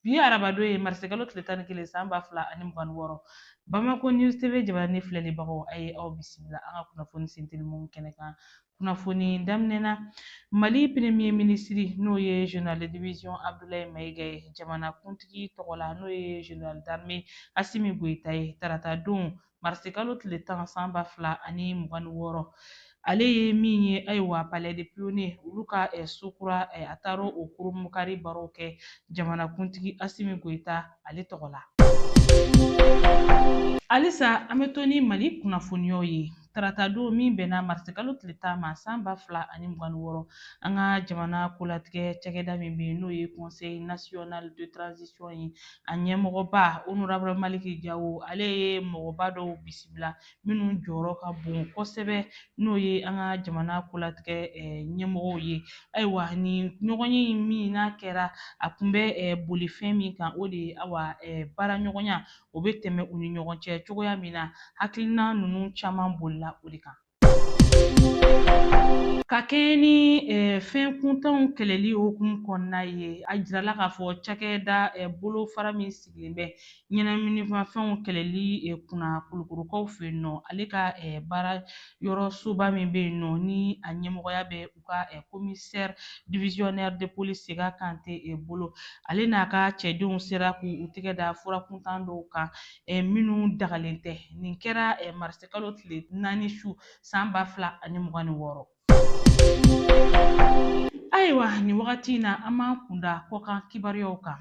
bi arabadon ye marisikalo tile tan ni kelen san ba fila ani mugan ni wɔɔrɔ bamakɔ news tv jabaranin filɛlibagaw a ye aw bisimila an ka kunnafoni sentelimanw kɛnɛ kan kunnafoni daminɛ na mali premier ministre n'o ye général de division abdulayi mayiga ye jamana kuntigi tɔgɔ la n'o ye général d'armée asimi goyita ye tarata don marisikalo tile tan san ba fila ani mugan ni wɔɔrɔ ale ye min ye ayiwa palais des pionniers olu ka eh, so kura eh, a taara o kurunbonkari baaraw kɛ jamanakuntigi asimi goyita ale tɔgɔ la halisa an bɛ to ni mali kunnafoniyaw ye tarata don min bɛnna marisi kalo tile tan ma san ba fila ani mugan ni wɔɔrɔ an ka jamana kolatigɛ cakɛda min bɛ yen n'o ye conseil national de transition ye a ɲɛmɔgɔba honorable maliki jawo ale ye mɔgɔba dɔw bisimila minnu jɔyɔrɔ ka bon kosɛbɛ n'o ye an ka jamana kolatigɛ ɲɛmɔgɔw ye ayiwa nin ɲɔgɔnye min n'a kɛra a tun bɛ boli fɛn min kan o de ye awa baara ɲɔgɔnya o bɛ tɛmɛ u ni ɲɔgɔn cɛ cogoya min na hakilina ninnu caman bolila o de kan Ka kɛɲɛ ni fɛn kuntanw kɛlɛli hukumu kɔnɔna ye, a jirala k'a fɔ cakɛda bolofara min sigilen bɛ ɲɛnaminimafɛnw kɛlɛli kunna Kulukorokaw fɛ yen nɔ, ale ka baara yɔrɔ soba min bɛ yen nɔ ni a ɲɛmɔgɔya bɛ u ka commissaire divisionnaire de police sega kante bolo ale n'a ka cɛdenw sera k'u tɛgɛ da fura kuntan dɔw kan minnu dagalen tɛ nin kɛra marisikalo tile naani su san ba fila ani mugan ni wɔɔrɔ ayiwa nin wagati in na an b'an kunda kɔkan kibaruyaw kan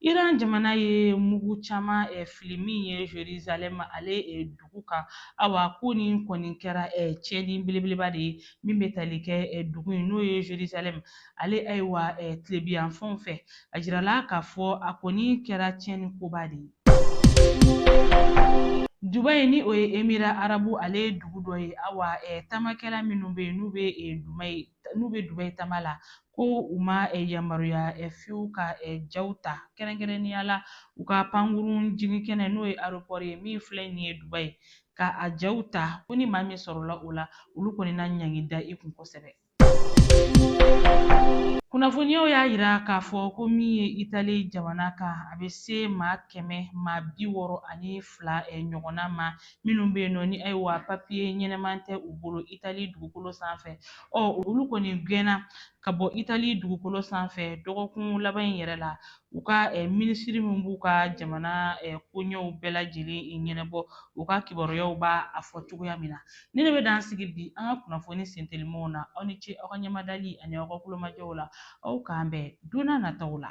iran jamana ye mugu caman fili min ye jerusalem ale dugu kan awa ko nin kɔni kɛra tiɲɛni belebeleba de ye min bɛ tali kɛ dugu in n'o ye jerusalem ale ayiwa tilebiyanfanw fɛ a jirala k'a fɔ a kɔni kɛra tiɲɛni koba de ye Dubayi ni o ye emira arabu ale ye dugu dɔ ye awa tamakɛla minnu bɛ yen n'u bɛ Dubayi n'u bɛ dubayi taama la ko u ma yamaruya fiyewu ka jaw ta kɛrɛnkɛrɛnnenya la u ka pankurun jigin kɛnɛ n'o ye aéroport ye min filɛ nin ye dubayi ka a jaw ta ko ni maa min sɔrɔla o la olu kɔni na ɲangi da i kun kosɛbɛ kunnafoniyaw y'a jira k'a fɔ ko min ye itali jamana kan a bɛ se maa kɛmɛ maa bi wɔɔrɔ ani fila ɲɔgɔnna ma minnu bɛ yen nɔ ni ayiwa papiye ɲɛnaman tɛ u bolo itali dugukolo sanfɛ ɔ olu kɔni gɛnna ka bɔ itali dugukolo sanfɛ dɔgɔkun laban in yɛrɛ la u ka minisiri min b'u ka jamana koɲɛw bɛɛ lajɛlen ɲɛnabɔ u ka kibaruyaw b'a fɔ cogoya min na nin de bɛ dan sigi bi an ka kunnafoni sentelimanw na aw ni ce aw ka ɲɛmadali ani aw ka tulomajɔw la aw k'an bɛn donna nataw la